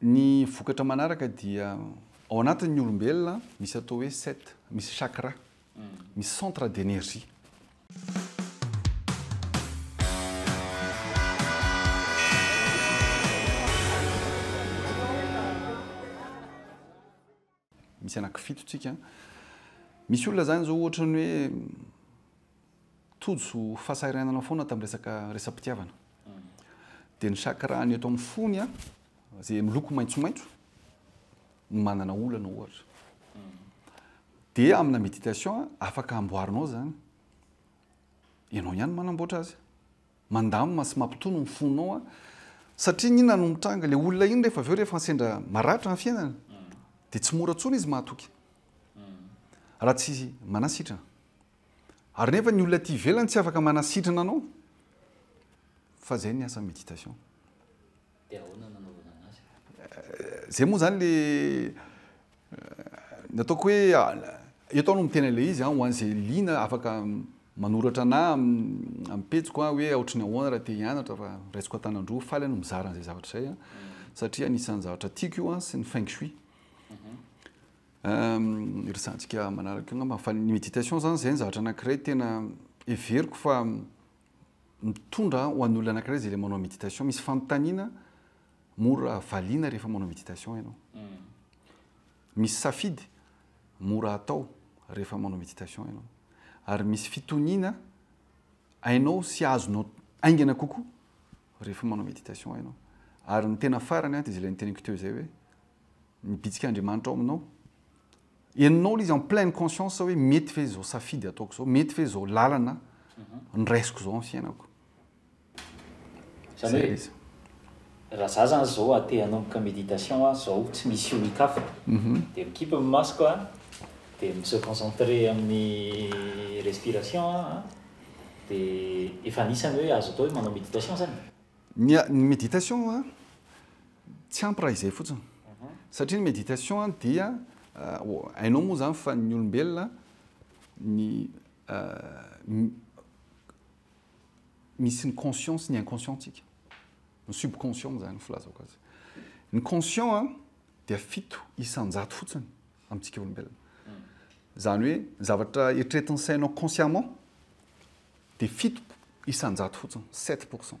Ny vokatra manaraka dia ao anatin'ny olombelona misy atao hoe set, misy chakra, misy centre d'énergie. Misy anaky fito tsika. Misy olona zany zao ohatra ny hoe tojo fasahiranana foana tam resaka resapitiavana. Dia ny chakrany eto amin'ny fony a, zay miloko maitsomaitso no manana olana ohatra. Dia amina méditation afaka amboarinao zany. Ianao ihany manamboatra azy. Mandamina sy mampitony ny fonao an! Satria inona no mitranga? Ilay olona iny rehefa avy eo rehefa sendra maratra ny fiainana dia tsy mora intsony izy mahatoky raha tsy manasitrana. Ary nefa ny olona aty ivelany tsy afaka manasitrana anao fa izay ny asan'ny méditation. Dia ahoana no nanaovana an'azy? Izay moa izany le ny ataoko hoe eto aho no miteny an'ilay izy ho an'izay liana afaka manoratra anà amin'ny pejiko hoe ohatry ny ahoana raha te hianatra fa raisiko an-tanan-droa, faly aho no mizara an'izay zavatra izay satria anisan'ny zavatra tiako io sy ny feng shui. Mhm. Iresahantsika manaraka io angamba fa ny méditation izany izay ny zavatra anankiray tena heveriko fa mitondra ho an'olona anankiray izay ilay manao méditation. Misy fanontaniana mora valiana rehefa manao méditation ianao. Mm. Misy safidy mora atao rehefa manao méditation ianao. Ary misy fitoniana hainao sy azonao aingana kokoa rehefa manao méditation ianao. Ary ny tena farany dia izay ilay niteniko teo izay hoe ny bitsik'Andriamanitra ao aminao. Henonao ilay izy en pleine conscience hoe mety ve izao safidy ataoko izao, mety ve izao lalana mhm. niraisiko izao amin'ny fiainako. Zany hoe raha za zany zao a te hanomboka méditation a zao tsy misy olon-kafa mhm. de mikipy ny masoko a de mi se concentrer amin'ny respiration a de efa anisany hoe azo atao hoe manao méditation zany. Ny ny méditation a Tsy ampy raha izay fotsiny. Satria ny méditation dia hainao moa izany fa ny olombelona ny misy ny conscient sy ny inconscient-tsika. Ny subconscient izany no filazako azy. Ny conscient dia fito isan-jato fotsiny amintsika olombelona. Izany hoe ny zavatra eritreretin'ny sainao consciemment dia fito isan-jato fotsiny, sept pour cent.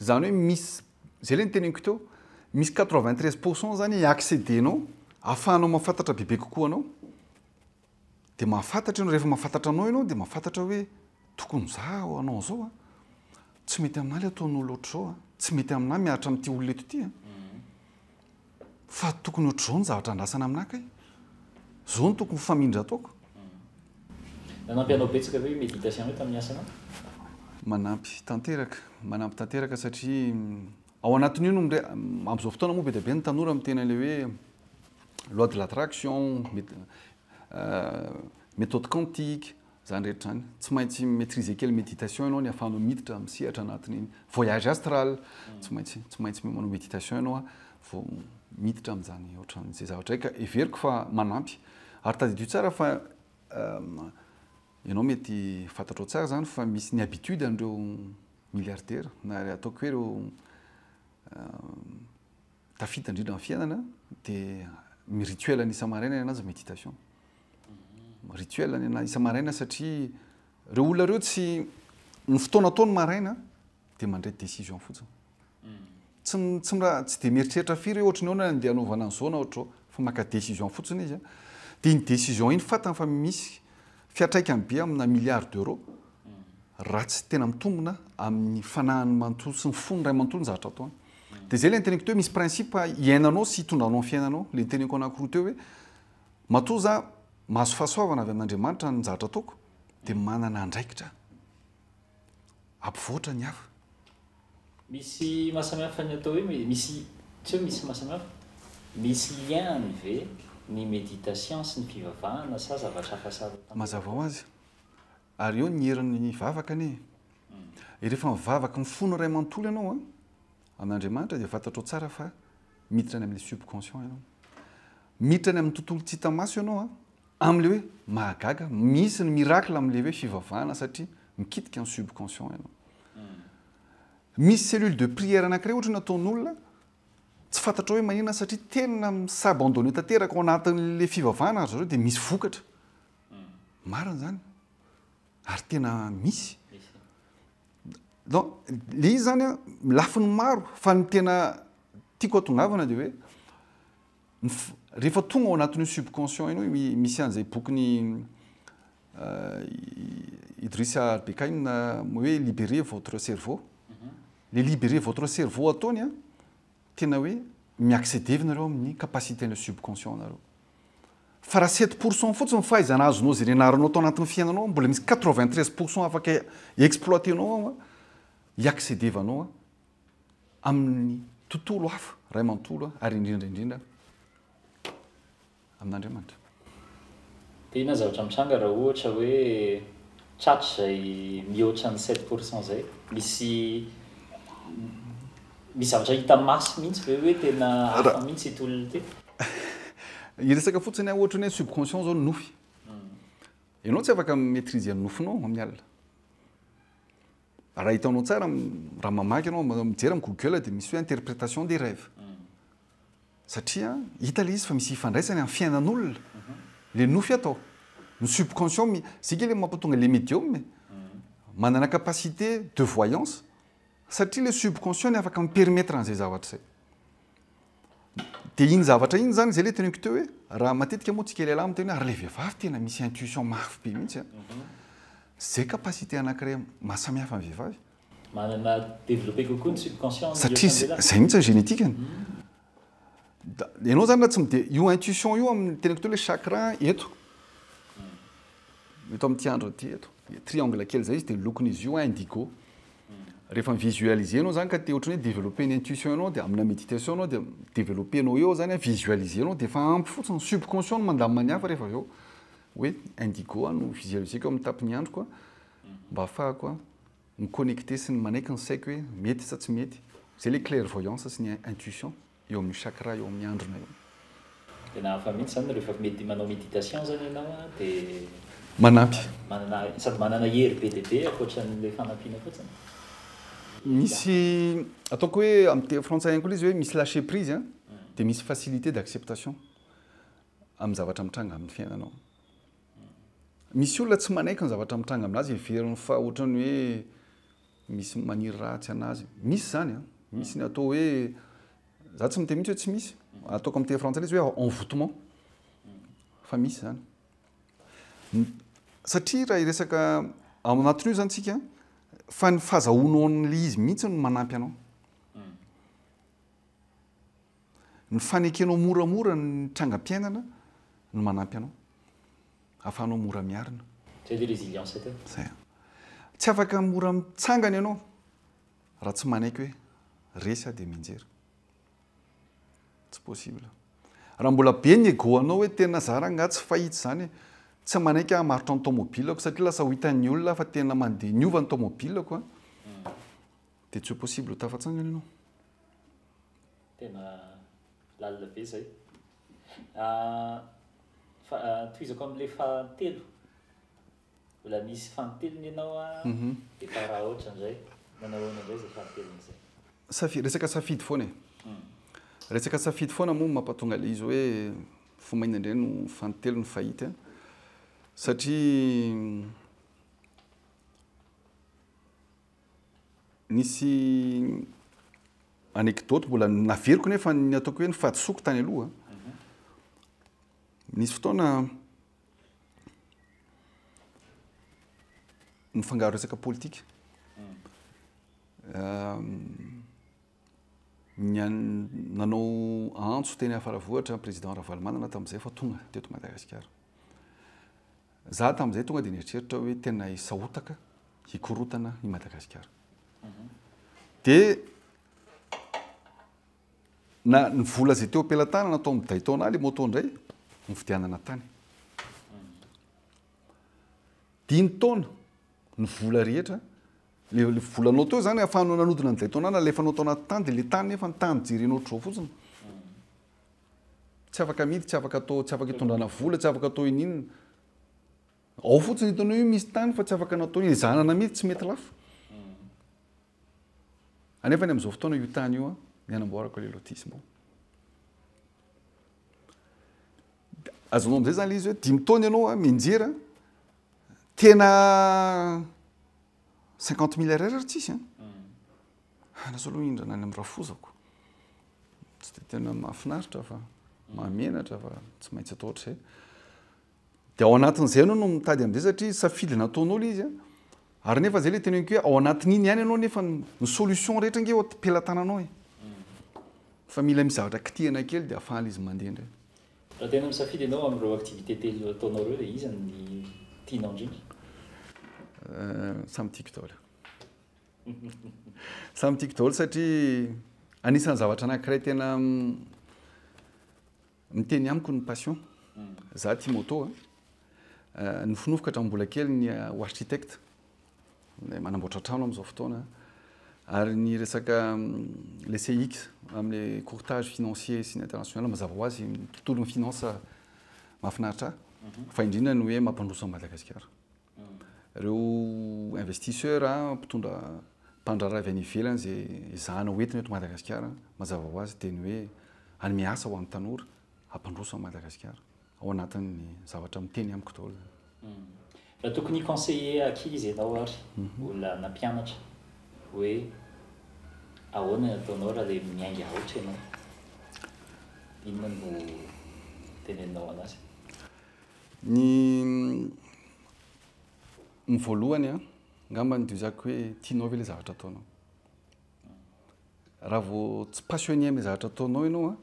Zany hoe misy, zay le niteneniko teo, misy quatre vingt treize pour cent zany i acceder-nao ahafahanao mahafantatra bebe kokoa anao. Dia mahafantatra ianao, rehefa mahafantatra anao ianao dia mahafantatra hoe tokony za hanao an'izao a, tsy mety aminahy le ataon'olo ohatr'izao a, tsy mety aminahy miaritra amin'ity olona eto ity a. Fa tokony ohatr'izao ny zavatra andrasana aminà kay. Izao no tokony ho famindra ataoko. Nanampy anao betsaka ve io méditation io tamin'ny asanao? Manampy tanteraka, manampy tanteraka satria ao anatin'io no mire- amin'izao fotoana moa be dia be ny tanora miteny an'ilay hoe loi de l'attraction, met- méthode quantique, Izany rehetra izany. Tsy maintsy mi-maitriser kely méditation ianao ny ahafahanao miditra amin'ny sehatra anatin'iny voyage astral. Tsy maintsy, tsy maintsy manao méditation ianao vao miditra amin'izany ohatran'izay zavatra izay ka heveriko fa manampy. Ary tadidio tsara fa ianao mety fantatrao tsara izany fa misy ny habitude an'ireo milliardaires na ataoko hoe ireo Tafita indrindra amin'ny fiainana dia ny rituel ny isa-maraina ny anazy méditation. Rituel ny anazy isa-maraina satria ireo olona ireo tsy ny fotoana atao ny maraina dia mandray décision fotsiny. Tsy tsy tsy dia mieritreritra firy hoe ohatry ny ahoana andeha hanaovana an'izao na ohatry izao fa maka décision fotsiny izy. Dia iny décision iny fantany fa misy Fiantraikany be amina milliards d'euros raha tsy tena mitombina amin'ny fanahiny manontolo sy ny fony iray manontolo ny zavatra ataony. Dia izay ilay niteneniko teo hoe misy principe iainanao sy hitondranao amin'ny fiainanao, ilay niteneniko anankiroa teo hoe matoa za mahazo fahasoavana avy amin'Andriamanitra ny zavatra ataoko dia manana andraikitra aho. hampivoatra ny hafa. Misy mahasamihafa ny atao hoe me, misy, tsy hoe misy mahasamihafa, misy lien-ny ve ny méditation sy ny fivavahana sa zavatra hafa samy hafa? Mazava ho azy. Ary eo ny herin'ny vavaka anie e. Rehefa mivavaka mifono iray manontolo ianao an, amin'Andriamanitra dia fantatrao tsara fa miditra any amin'ny subconscient ianao. Miditra any amin'ny tontolo tsy hita maso ianao an. Amin'ilay hoe mahagaga, misy ny miracle amin'ilay hoe fivavahana satria mikitika ny subconscient ianao. Misy cellule de prière anankiray ohatra nataon'olona tsy fantatrao hoe maninona satria tena mi-s'abandonner tanteraka ao anatin'ilay fivavahana ry zareo dia misy vokatra. Marina izany. Ary tena misy. Donc, le izy izany lafiny maro fa ny tena tiako hatongavana dia hoe Rehefa tonga ao anatin'io subconscient io no misy an'izay bokin'i Idrissa Al-Bekkaïn hoe libérez votre cerveau. Mhm. Le libérez votre cerveau ataony an, tena hoe mi-accéder nareo amin'ny capacité-n'ny subconscient nareo. Fa raha 7 pourcent fotsiny fahaizana azonao izay nianaranao tao anatin'ny fiainanao, mbola misy 93 pourcent afaka exploiter-nao ao an, i accéder-vanao an, amin'ny tontolo hafa ray manontolo ary indrindra indrindra amin'Andriamanitra. Dia inona zavatra mitranga raha ohatra hoe tsy hatrizay mihoatra ny sept pour cent izay? Misy misy zavatra hita maso mihitsy ve hoe tena hafa mihitsy ity olona ity? Hiresaka fotsiny aho ohatra ny hoe subconscient izao ny nofy. Ianao tsy afaka mi-maitriser ny nofinao amin'ny alina. Raha hitanao tsara, raha mamaky ianao, mijery amin'ny Google dia misy hoe interprétation des rêves. Satria hita ilay izy fa misy ifandraisany amin'ny fiainan'olona. Ilay nofy ato, ny subconscient, mi- izay kely mampatonga ilay médium e. Manana capacité de voyance satria ilay subconscient no afaka mi-permettre an'izay zavatra izay. Dia iny zavatra iny zany zay le teneniko teo hoe raha matetika moa tsika lehilahy miteny hoe ary le vehivavy tena misy intuition mafy be mihitsy a. Mhm. Zay capacité anankiray mahasamihafa ny vehivavy. Manana développé kokoa ny subconscient ny Satria zay zay mihitsy ny génétique-ny. Mhm. Da ianao zany raha tsy mide- io intuition io amin'ny teneniko teo le chakra eto. Mhm. Eto amin'ity andro ity eto. Triangle kely zay izy dia ny lokon'izy io indigo. Rehefa mi-visualiser anao zany ka te ohatran'ny hoe developper ny intuition anao dia amina méditation anao dia mi-developper anao eo zany visualiser anao dia efa ampy fotsiny, subconscient no mandamina ny hafa rehefa avy eo hoe indigo aho no visualiseko amin'ny tapin'ny androko mba hahafahako mi-connecter sy ny manaiky ny saiko hoe mety sa tsy mety. Izay ilay clairvoyance sy ny intuition. eo amin'io chakra eo amin'ny handrina io. Tena hafa mihitsy izany rehefa mety manao méditation izany ianao an, dia Manampy. manana, sady manana hery be dia be ankoatra an'ilay fanampiana fotsiny. Misy ataoko hoe amin'ny teny frantsay ihany koa ilay izy hoe misy lâcher prise an, dia misy facilité d'acceptation amin'ny zavatra mitranga amin'ny fiainanao. Misy olona tsy manaiky ny zavatra mitranga aminazy, heveriny fa ohatran'ny hoe Misy maniry ratsy an'azy. Misy izany an! Misy ny atao hoe, za tsy miteny mihitsy hoe tsy misy, ataoko amin'ny teny frantsay ilay izy hoe envoutement, fa misy izany. Satria raha hiresaka ao anatin'io izany isika, fa ny fahazahoanao an'ilay izy mihitsy no manampy anao. Ny fanekenao moramora ny trangam-piainana no manampy anao. afahanao mora miarina. Zay ve résilience teo? Zay an. Tsy afaka mora mitsangana ianao raha tsy manaiky hoe resy aho dia mianjera. Tsy possible. Raha mbola be ny ego anao hoe tena za rangah tsy fahita izany e. Tsy manaiky hamarotra ny taomobilako satria lasa ho hitan'ny olona aho fa tena mandeha niova ny taomobilako an. Dia tsy ho possible ho tafatsangana ianao. Tena lalina be zay. Fa tohizako amin'ilay fahatelo, mbola misy fahatelony ianao an, dia fa raha ohatra indray, manao ahoana indray izay fahatelony izay? Safi- resaka safidy foana e. Resaka safidy foana moa no mampatonga ilay izy hoe fa mainona indray no fahatelony fahity an, satria Nisy anecdote mbola naveriko nefa ny ataoko hoe ny fahadisoako tany aloha. Nisy fotoana nifangaro resaka politika. Nanao antso teny Faravohitra ny président Ravalomanana tamin'izay fa tonga teto Madagasikara. Za tamin'izay tonga dia nieritreritra hoe tena hisahotaka hikorotana i Madagasikara. Dia na ny vola izay teo am-pelatanana atao amin'ny Daytona ilay moto indray novidianana tany. Dimy taona ny vola rehetra le le volanao teo zany afahanao nanodina ny Daytona nalefanao tao anaty tany dia le tany nefa ny tany jerenao ohatr'izao fotsiny. Tsy afaka amidy, tsy afaka atao, tsy afaka itondrana vola, tsy afaka atao ininona. Ao fotsiny hitanao io misy tany fa tsy afaka natao hizanana mihitsy, tsy mety lafo. Anefa ny amin'izao fotoana io tany io ny anamboarako ilay lotissement. Azonao amin'izay zany ilay izy hoe dimy taona ianao mianjera, tena cinquante mille RR tsisy an. Ahy lasa aloha hindrana any amin'ny rafozako. Tsy dia tena mahafinaritra fa mahamenatra fa tsy maintsy atao hatrizay. Dia ao anatin'izay ianao no mitady an'izay satria safidy nataonao ilay izy. Ary nefa izay ilay teneniko hoe ao anatin'iny ihany ianao nefa ny solution rehetra ange eo am-pelatananao e. Fa mila misy zavatra kitihana kely dia afahan'ilay izy mandeha indray. Raha tena misafidy ianao amin'ireo activités telo ataonao ireo dia iza no tianao indrindra? Samy tiako daholo. Samy tiako daholo satria anisan'ny zavatra anankiray tena miteny amiko ny passion. Hmm. Za tia moto a. Eh, nofinofiko hatramin'ny mbola kely ny eh, ho architecte. Eh, manamboatra trano amin'izao fotoana. Ary ny resaka mm, le CX amin'ny courtage financier sy ny international mazava ho azy tontolon'ny finance mahafinaritra ahy. Mhm. Fa indrindra ny hoe mampandroso an'i Madagasikara. Ireo investisseur, mpitondra, mpandraharaha avy any ivelany izay ezahana ho entina eto Madagasikara, mazava ho azy dia ny hoe hanome asa ho an'ny tanora, hampandroso an'i Madagasikara, ao anatin'ny zavatra miteny amiko daholo izany. Raha tokony hi-conseiller ankizy ianao ary olona nampianatra hoe ahoana ny ataonao raha ilay miainga aotra ianao, inona no teneninao an'azy? Ny ny voalohany an, angamba ny duzako hoe tianao ve ilay zavatra ataonao? Raha vao tsy passionné amin'ilay zavatra ataonao ianao an,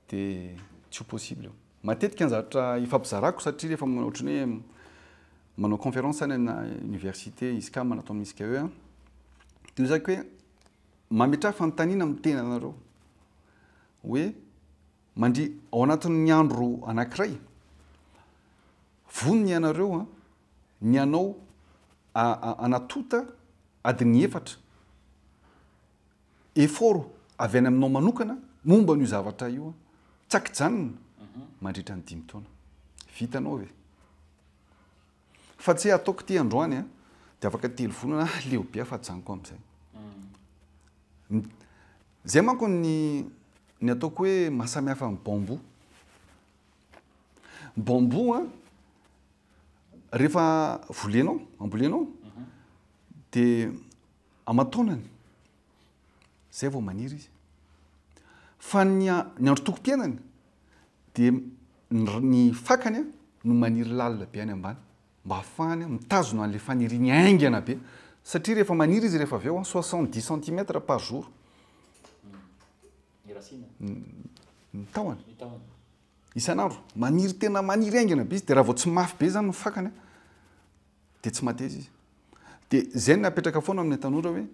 dia tsy ho possible io. Matetika ny zavatra ifampizarako satria rehefa manao ohatran'ny hoe manao conférence any amina université ISCAM na atao amin'ny ISCAE an, dia duzako hoe mametraha fanontaniana amin'ny tenanareo hoe. Mandria ao anatin'ny andro anankiray, vonona ianareo ny hanao anatota adiny efatra effort avy any aminao manokana momba an'io zavatra io, tsy ankijanona mandritra ny dimy taona. Vitanao ve? Fa tsy ataoko ity androany a, dia afaka telo volana aho leo be afa ajanoko amin'izay. Izay manko ny ny ataoko hoe mahasamihafa amin'ny bambou. Ny bambou a, rehefa volenao, ambolenao, dia aman-taonany. Izay vao maniry izy. Fa ny androtokom-piainany dia ny fakany no maniry lalina be any ambany mba hahafahany mitazona an'ilay faniriany haingana be. Satria rehefa maniry izy rehefa avy eo, soixante dix centimètres par jour ny tahony, isan'andro. Maniry tena maniry haingana be izy, dia raha vao tsy mafy be izany ny fakany, Dia tsy mateza izy. Dia izay no napetraka foana amin'ny tanora hoe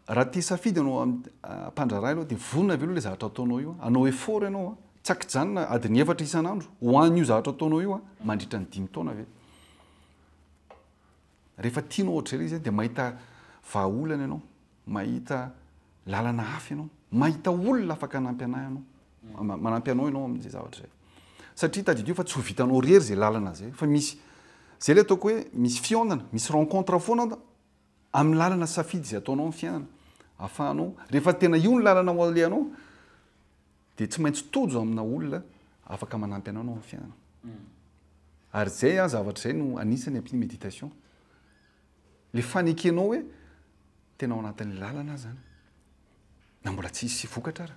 raha te hisafidy ianao hampandraharaha ianao dia vonona ve aloha ilay zavatra ataonao io? Hanao effort ianao, tsy an-kijanona adiny efatra isan'andro ho an'io zavatra ataonao io mandritra ny dimy taona ve? Rehefa tianao hoatr'izay ilay izy dia mahita vahaolana ianao. Mahita lalana hafa ianao. Mahita olona afaka hanampy anay ianao. Manampy anao ianao amin'izay zavatra izay. Satria tadidio fa tsy ho vitanao irery izay lalana izay. Fa misy, izay ilay ataoko hoe misy fihaonana, misy rencontre foana amin'ny lalana safidy izay ataonao amin'ny fiainana. Ahafahanao, rehefa tena io ny lalana ho alehanao, dia tsy maintsy tojo amina olona afaka manampy anao ianao amin'ny fiainana. Ary izay zavatra izay no anisan'ny ampin'ny méditation. le fanekenao hoe tena ao anatin'ny lalana aza any na mbola tsy hisy vokatra ara.